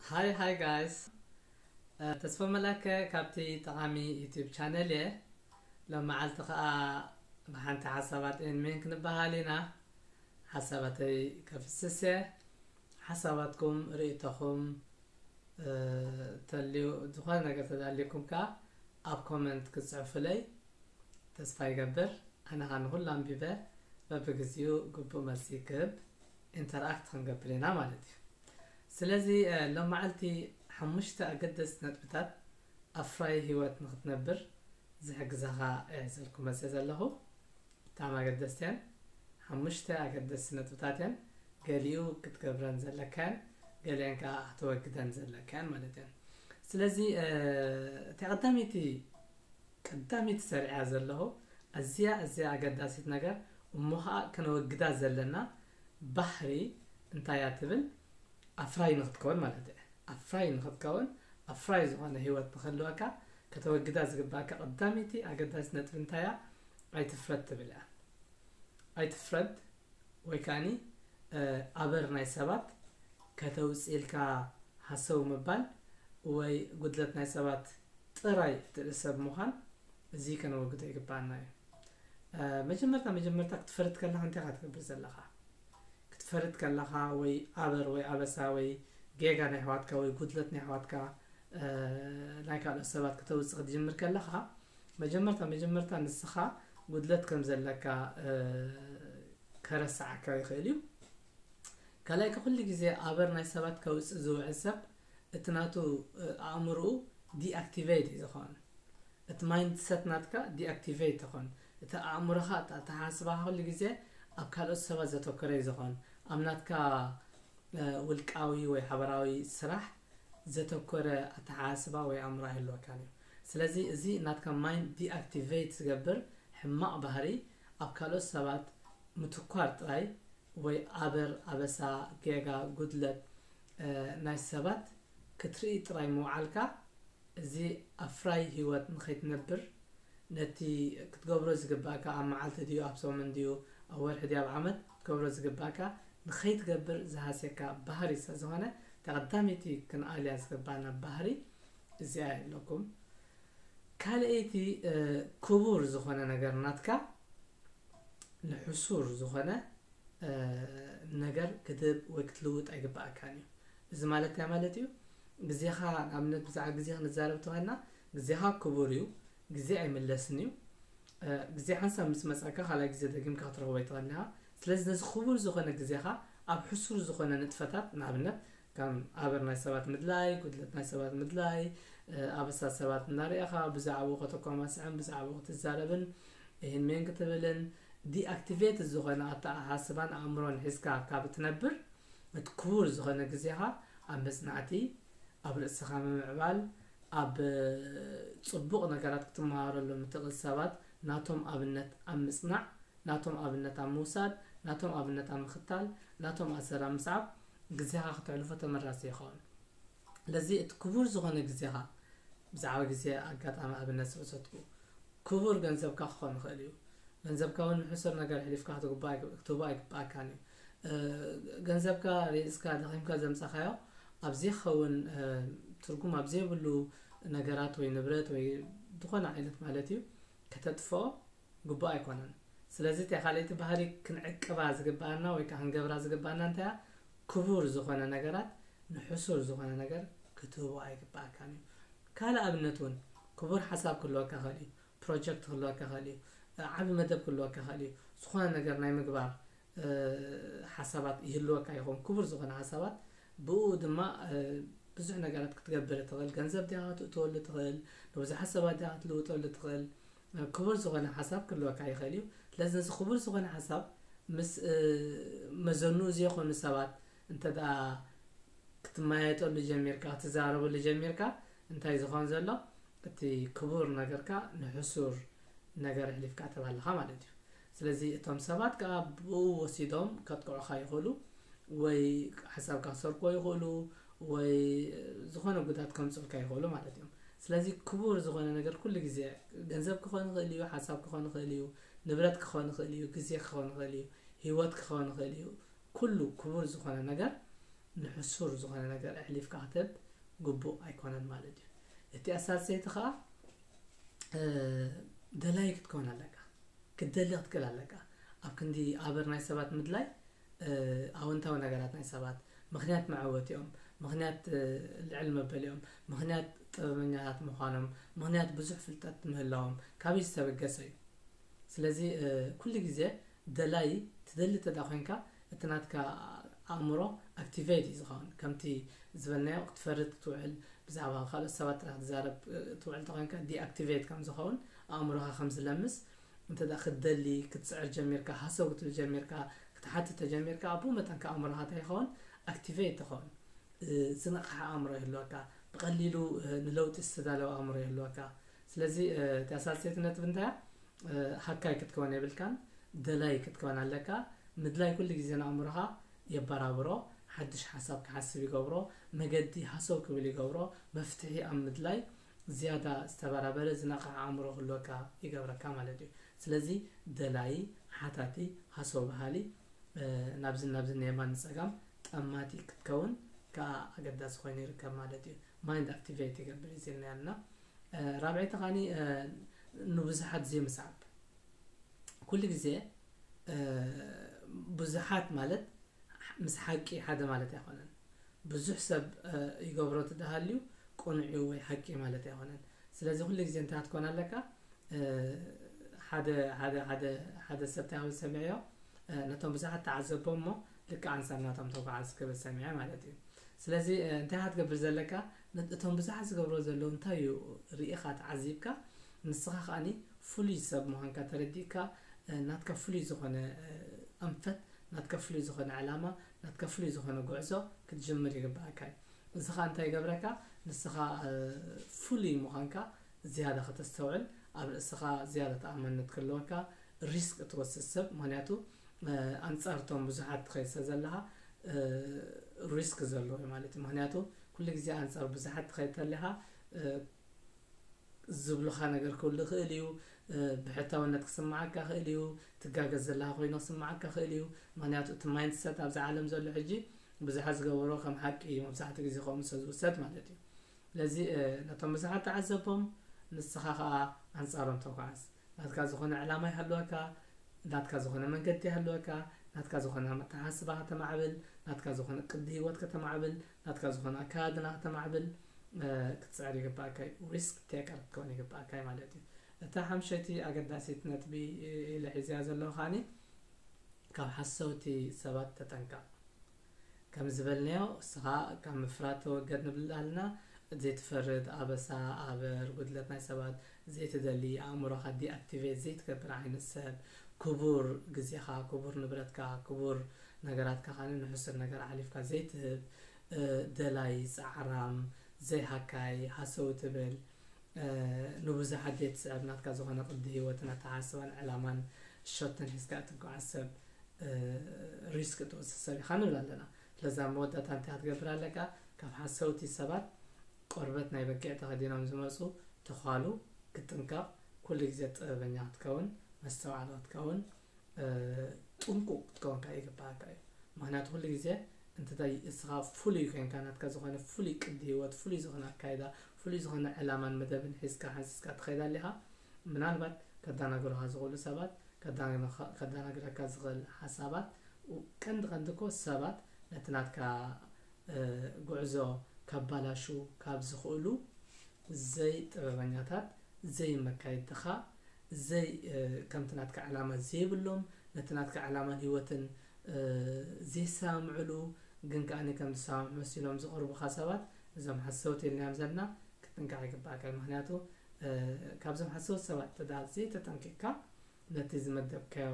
Hi hi guys ተስፋ መላከ ካብቲ ጠቓሚ ዩቲዩብ ቻነል እየ ሎመዓልቲ ከዓ ብሓንቲ ሓሳባት ኤን ሜን ክንበሃል ኢና ሓሳባተይ ከፍስስ እየ ሓሳባትኩም ርእቶኹም ተልዩ ዝኾነ ነገር ተዳልዩኩም ከዓ ኣብ ኮመንት ክፅዕፉለይ ተስፋ ይገብር ኣነ ከዓ ንኹሉ ኣንቢበ በብግዚኡ ግቡእ መልሲ ክህብ ኢንተርኣክት ክንገብር ኢና ማለት እዩ። ስለዚ ሎምዓልቲ ሓሙሽተ ኣገደስቲ ነጥብታት ኣፍራዪ ህይወት ንኽትነብር ዝሕግዛኻ ሒዘልኩም መጺኤ ዘለኹ። ብጣዕሚ ኣገደስቲ እየን። ሓሙሽተ ኣገደስቲ ነጥብታት እየን። ገሊኡ ክትገብረን ዘለካ እየን፣ ገሊአን ከኣ ክትወግደን ዘለካ እየን ማለት እየን። ስለዚ እቲ ቀዳመይቲ ቀዳሚት ሰሪዐያ ዘለኹ ኣዝያ ኣዝያ ኣገዳሲት ነገር እሞ ኸኣ ከነወግዳ ዘለና ባህሪ እንታይ እያ ትብል ኣፍራዪ ንኽትከውን ማለት እያ ኣፍራዪ ንኽትከውን ኣፍራዪ ዝኾነ ህይወት ንኽህልወካ ከተወግዳ ዝግብኣካ ቀዳመይቲ ኣገዳሲት ነጥቢ እንታይ እያ ኣይትፍረድ ትብል እያ ኣይትፍረድ ወይ ከኣኒ ኣበር ናይ ሰባት ከተውፅኢልካ ሃሰው ምባል ወይ ጉድለት ናይ ሰባት ጥራይ እትርኢ ሰብ ምዃን እዚ ከነወግዶ ይግብኣና እዩ። መጀመርታ መጀመርታ ክትፈርድ ከለኻ እንታይ ኢኻ ትገብር ዘለኻ? ክትፈርድ ከለኻ ወይ ኣበር ወይ ኣበሳ ወይ ጌጋ ናይ ኣሕዋትካ ወይ ጉድለት ናይ ኣሕዋትካ ናይ ካልኦት ሰባት ክተውፅእ ክትጅምር ከለኻ መጀመርታ መጀመርታ ንስኻ ጉድለት ከም ዘለካ ከረስዓካ ይኽእል እዩ። ካልኣይ ከኩሉ ግዜ ኣበር ናይ ሰባት ከውጽእ ዝውዕል ሰብ እቲ ናቱ ኣእምርኡ ዲኣክቲቨይት እዩ ዝኮን እቲ ማይንድ ሰት ናትካ ዲኣክቲቨይት ይኮን እቲ ኣእምሮካ እቲ ኣተሓሳስባካ ኩሉ ግዜ ኣብ ካልኦት ሰባት ዘተኮረ እዩ ዝኮን ኣብ ናትካ ውልቃዊ ወይ ሓበራዊ ስራሕ ዘተኮረ ኣተሓሳስባ ወይ ኣእምሮ ኣይህልወካን እዩ። ስለዚ እዚ ናትካ ማይንድ ዲኣክቲቨይት ዝገብር ሕማቕ ባህሪ ኣብ ካልኦት ሰባት ምትኳር ጥራይ ወይ ኣበር፣ ኣበሳ፣ ጌጋ፣ ጉድለት፣ ናይ ሰባት ክትርኢ ጥራይ ምውዓልካ እዚ ኣፍራዪ ህይወት ንኸይትነብር ነቲ ክትገብሮ ዝግባእካ ኣብ መዓልቲ ድዩ ኣብ ሰሙን ድዩ ኣብ ወርሒ ድዩ ኣብ ዓመት ክትገብሮ ዝግባእካ ንኸይትገብር ዝሃስየካ ባህሪ ስለዝኾነ ተቐዳመይቲ ክንኣልያ ዝግባእና ባህሪ እዚኣ እያ እብለኩም። ካልኣይቲ ክቡር ዝኾነ ነገር ናትካ ንሕሱር ዝኾነ ነገር ክትህብ ወይ ክትልውጥ ኣይግባእካን እዩ። እዚ ማለት እንታይ ማለት እዩ? ግዜኻ ንኣብነት ብዛዕባ ግዜ ክንዛረብ ተኾይና ግዜኻ ክቡር እዩ። ግዜ ኣይምለስን እዩ ግዜ ሓንሳብ ምስ መጸካ ካልኣይ ግዜ ደጊምካ ክትረኽቦ ኣይትኽእልን'ኻ ስለዚ ነዚ ክቡር ዝኾነ ግዜኻ ኣብ ሕሱር ዝኾነ ንጥፈታት ንኣብነት ከም ኣበር ናይ ሰባት ምድላይ ጉድለት ናይ ሰባት ምድላይ ኣበሳ ሰባት እናርኣኻ ብዛዕብኡ ከተኳማስዕን ብዛዕብኡ ክትዛረብን ይህን ሜን ክትብልን ዲኣክቲቬት ዝኾነ ኣተኣሓስባን ኣእምሮን ሒዝካ ካብ እትነብር እቲ ክቡር ዝኾነ ግዜኻ ኣብ መጽናዕቲ ኣብ ርእስኻ ምምዕባል ኣብ ጽቡቕ ነገራት ክትመሃረሎም እትኽእል ሰባት ናቶም ኣብነት ኣብ ምጽናዕ፣ ናቶም ኣብነት ኣብ ምውሳድ፣ ናቶም ኣብነት ኣብ ምኽታል፣ ናቶም ኣሰር ኣብ ምስዓብ ግዜኻ ክተሕልፎ ተመራጺ ይኸውን። ስለዚ እቲ ክቡር ዝኾነ ግዜኻ፣ ብዛዕባ ግዜ ኣጋጣሚ ኣብነት ስለ ዝሰጥኩ፣ ክቡር ገንዘብካ ክኾን ይኽእል እዩ። ገንዘብካ እውን ንሕሱር ነገር ኣሕሊፍካ ክትህቦ ኣይግብኣካን እዩ። ገንዘብካ ሪእስካ ደኺምካ ዘምጻኻዮ ኣብ ዘይከውን ትርጉም ኣብ ዘይብሉ ነገራት ወይ ንብረት ወይ ዝኾነ ዓይነት ማለት እዩ ከተጥፍኦ ግቡእ ኣይኮነን። ስለዚ እታ ካልኣይቲ ባህሪ ክንዕቅባ ዝግብኣና ወይ ከዓ ክንገብራ ዝግብኣና እንታይ እያ? ክቡር ዝኾነ ነገራት ንሕሱር ዝኾነ ነገር ክትህቦ ኣይግብኣካን እዩ። ካልእ ኣብነት እውን ክቡር ሓሳብ ክህልወካ ይኽእል እዩ። ፕሮጀክት ክህልወካ ይኽእል እዩ፣ ዓቢ መደብ ክህልወካ ይኽእል እዩ፣ ዝኾነ ነገር ናይ ምግባር ሓሳባት ይህልወካ ይኸውን፣ ክቡር ዝኾነ ሓሳባት፣ ብእኡ ድማ ብዙሕ ነገራት ክትገብር ትኽእል፣ ገንዘብ ድያ ክትእትወሉ ትኽእል፣ ንብዙሓት ሰባት ድያ ክትልውጠሉ ትኽእል፣ ክቡር ዝኾነ ሓሳብ ክህልወካ ይኽእል እዩ፣ ስለዚ ነዚ ክቡር ዝኾነ ሓሳብ ምስ መዘንኡ ዘይኮኑ ሰባት እንተ ክትመያየጠሉ ጀሚርካ፣ ክትዛረበሉ ጀሚርካ፣ እንታይ ዝኮን ዘሎ እቲ ክቡር ነገርካ ንሕሱር ነገር ኣሕሊፍካ ትህብ ኣለካ ማለት እዩ ስለዚ እቶም ሰባት ከኣ ብኡ ወሲዶም ከጥቅዑካ ይክእሉ ወይ ሓሳብካ ክሰርቅዎ ይክእሉ ወይ ዝኮነ ጉድኣት ከምጽኡልካ ይክእሉ ማለት እዮም ስለዚ ክቡር ዝኮነ ነገር ኩሉ ግዜ ገንዘብ ክኮን ይክእል እዩ ሓሳብ ክኮን ይክእል እዩ ንብረት ክኮን ይክእል እዩ ግዜ ክኮን ይክእል እዩ ሂወት ክኮን ይክእል እዩ ኩሉ ክቡር ዝኮነ ነገር ንሕሱር ዝኮነ ነገር ኣሕሊፍካ ክትህብ ግቡእ ኣይኮነን ማለት እዩ እቲ ኣሳሰይቲ ከዓ ደላይ ክትከውን ኣለካ ክትደሊ ክትክእል ኣለካ ኣብ ክንዲ ኣበር ናይ ሰባት ምድላይ ኣወንታዊ ነገራት ናይ ሰባት ምክንያት መዐወቲኦም ምክንያት ልዕል መበሊኦም ምክንያት ጥበበኛታት ምዃኖም ምክንያት ብዙሕ ፍልጠት ምህላዎም ካብይ ዝተበገሰ እዩ ስለዚ ኩሉ ግዜ ደላይ ትደሊ ተዳ ኮንካ እቲ ናትካ ኣእምሮ ኣክቲቨይት እዩ ዝኸውን ከምቲ ዝበልናዮ ክትፈርድ ክትውዕል ብዛዕባ ካልኦት ሰባት ጥራሕ ክትዛረብ ትውዕል ተኾይንካ ዲኣክቲቨይት ከም ዝኸውን ኣእምሮኻ ከም ዝለምስ እንተ ክትደሊ ክትስዕር ጀሚርካ ሃሰው ክትብል ጀሚርካ ክትሓትት ተጀሚርካ ኣብኡ መጠን ከ ኣእምሮኻ እንታይ ይኸውን ኣክቲቨይት ይኸውን ዝነቕሓ ኣእምሮ ይህልወካ ብቐሊሉ ንለውጢ ዝተዳለወ ኣእምሮ ይህልወካ ስለዚ እቲኣ ሳልሰይቲ ነጥቢ እንታይ እያ? ሃካይ ክትከውን የብልካን፣ ደላይ ክትከውን ኣለካ። ምድላይ ኩሉ ግዜ ንኣእምሮኻ የበራብሮ፣ ሓድሽ ሓሳብ ክሓስብ ይገብሮ፣ መገዲ ሃሰው ክብል ይገብሮ፣ መፍትሒ ኣብ ምድላይ ዝያዳ ዝተበራበረ ዝነቕሐ ኣእምሮ ክህልወካ ይገብረካ ማለት እዩ። ስለዚ ደላዪ፣ ሓታቲ፣ ሃሰው በሃሊ፣ ናብዝን ናብዝን ንየማን ንጸጋም ጠማቲ ክትከውን ከኣ ኣገዳሲ ኮይኑ ይርከብ ማለት እዩ። ማይንድ ኣክቲቨይት ይገብር እዩ ዝብልና ኣለና። ራብዐይቲ ካኒ ንብዙሓት ዘይምስዓብ ኩሉ ግዜ ብዙሓት ማለት ምስ ሓቂ ሓደ ማለት ኣይኮነን ብዙሕ ሰብ ይገብሮ ትደሃልዩ ቁኑዕ ወይ ሓቂ ማለት ኣይኮነን ስለዚ ኩሉ ግዜ እንታይ ክትኮን ኣለካ ሓደ ሓደ ሓደ ሓደ ሰብ እንታይ ክብል ሰሚዐዮ ነቶም ብዙሓት ተዓዘቦም እሞ ልክዕ ኣንሳብ ናቶም ተጓዓዝ ክብል ሰሚዐ ማለት እዩ ስለዚ እንታይ ክትገብር ዘለካ እቶም ብዙሓት ዝገብርዎ ዘለዉ እንታይ እዩ ሪኢኻ ተዓዚብካ ንስኻ ከኣ ፍሉይ ሰብ ምዃንካ ተረዲእካ ናትካ ፍሉይ ዝኾነ ኣንፈት ናትካ ፍሉይ ዝኾነ ዕላማ ናትካ ፍሉይ ዝኾነ ጉዕዞ ክትጅምር ይግበኣካ እዩ እዚ ከኣ እንታይ ይገብረካ ንስኻ ፍሉይ ምዃንካ ዝያዳ ከተስተውዕል ኣብ ርእስኻ ዝያዳ ተኣማንነት ክህልወካ ሪስክ እትወስድ ሰብ ምክንያቱ ኣንጻር እቶም ብዙሓት ትኸይድ ስለ ዘለኻ ሪስክ ዘለዎ እዩ ማለት እዩ ምክንያቱ ኩሉ ግዜ ኣንጻር ብዙሓት ትኸይድ ተለኻ ዝብሉኻ ነገር ክህሉ ይኽእል እዩ፣ ብሕታውነት ክስምዓካ ይኽእል እዩ፣ ትጋገ ዘለኻ ኮይኑ ክስምዓካ ይኽእል እዩ፣ ምኽንያቱ እቲ ማይንድ ሰት ኣብዛ ዓለም ዘሎ ሕጂ ብዙሓት ዝገበርዎ ከም ሓቂ እዩ መብዛሕትኡ ግዜ ከምኡ ስለ ዝውሰድ ማለት እዩ። ስለዚ ነቶም ብዙሓት ተዓዘቦም ንስኻ ከኣ ኣንጻሮም ተጓዓዝ። ናትካ ዝኾነ ዕላማ ይሃልወካ፣ ናትካ ዝኾነ መንገዲ ይሃልወካ፣ ናትካ ዝኾነ ኣተሓሳስባ ከተማዕብል፣ ናትካ ዝኾነ ቅዲ ህይወት ከተማዕብል፣ ናትካ ዝኾነ ኣከዳድና ከተማዕብል ክትጽዕር ይግብኣካ እዩ፣ Risk Taker ክትከውን ይግብኣካ እዩ ማለት እዩ። እታ ሓምሸይቲ ኣገዳሲት ነጥቢ ኢለ ሒዘያ ዘለኹ ከኣኒ ካብ ሓሰውቲ ሰባት ተጠንቀቕ። ከም ዝበልናዮ እስኻ ካብ ምፍራድ ተወገድ ንብል ኣልና እቲ ዘይትፈርድ ኣበሳ፣ ኣበር፣ ጉድለት ናይ ሰባት ዘይትደሊ ኣእምሮኻ ዲኣክቲቬት ዘይትገብር ዓይነት ሰብ ክቡር ግዜኻ ክቡር ንብረትካ ክቡር ነገራትካ ከኣ ንሕሱር ነገር ኣሕሊፍካ ዘይትህብ ደላይ ጻዕራም ዘይሃካይ ሃሰው ትብል ንብዙሓት ዘይትስዕር ናትካ ዝኾነ ቅዲ ሂወትን ኣተሓሳስባን ዕላማን ሸቶን ሒዝካ እትጓዓዝ ሰብ ሪስክ እትወስድ ሰብ ኢኻ ንብል ኣለና ስለዚ ኣብ መወዳእታ እንታይ ክትገብር ኣለካ ካብ ሓሰውቲ ሰባት ቆርበት ናይ በጊዕ ተኸዲኖም ዝመጹ ተዃሉ ክትጥንቀቕ ኩሉ ግዜ ጥበበኛ ክትከውን መስተውዓሊ ክትከውን ጥንቁቕ ክትከውን ከኣ ይግብኣካ እዩ ምክንያቱ ኩሉ ግዜ እንተ እስኻ ፍሉይ ኮይንካ ናትካ ዝኾነ ፍሉይ ቅዲ ህይወት ፍሉይ ዝኾነ ኣካይዳ ፍሉይ ዝኾነ ዕላማን መደብን ሒዝካ ሓንሲስካ ትኸይድ ኣሊኻ ምናልባት ከዳናግሩኻ ዝኽእሉ ሰባት ከዳናግረካ ዝኽእል ሓሳባት ቀንዲ ቀንዲ እኮ ሰባት ነቲ ናትካ ጉዕዞ ከባላሹ ካብ ዝኽእሉ ዘይ ጥበበኛታት ዘይ መካይድትኻ ዘይ ከምቲ ናትካ ዕላማ ዘይብሎም ነቲ ናትካ ዕላማን ሂወትን ዘይሰማምዕሉ ግን ከኣ ከም ዝሰማምዑ መሲሎም ዝቐርቡኻ ሰባት እዞም ሓሰውቲ ኢልናዮም ዘለና ክትጥንቀቕ ይግባኣካ ምኽንያቱ ካብዞም ሓሰውቲ ሰባት እንተ ዘይተጠንቂቕካ ነቲ ዝመደብካዮ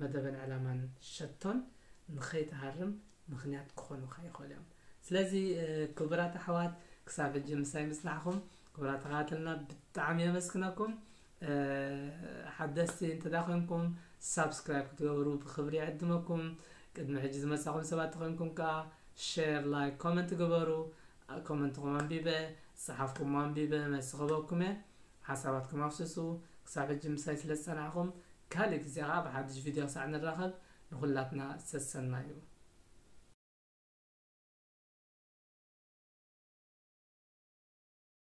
መደበን ዕላማን ሸቶን ንኸይትሃርም ምኽንያት ክኾኑኻ ይኽእሉ እዮም። ስለዚ ክቡራት ኣሕዋት ክሳብ ሕጂ ምሳይ ምጽናሕኩም ክቡራት ተኸታተልና ብጣዕሚ የመስግነኩም። ሓደስቲ እንተ ኮይንኩም ሳብስክራይብ ክትገብሩ ብክብሪ ይዕድመኩም። ቅድሚ ሕጂ ዝመጻኹም ሰባት ተኾይንኩም ከኣ ሼር፣ ላይክ፣ ኮመንት ግበሩ። ኮመንትኹም ኣንቢበ ዝጸሓፍኩሞ ኣንቢበ መልሲ ክህበኩም እየ። ሓሳባትኩም ኣፍስሱ ክሳብ ሕጂ ምሳይ ስለ ዝጸናሕኩም ካልእ ግዜ ከኣ ብሓድሽ ቪድዮ ክሳዕ ንራኸብ ንኹላትና ሰሰናዩ።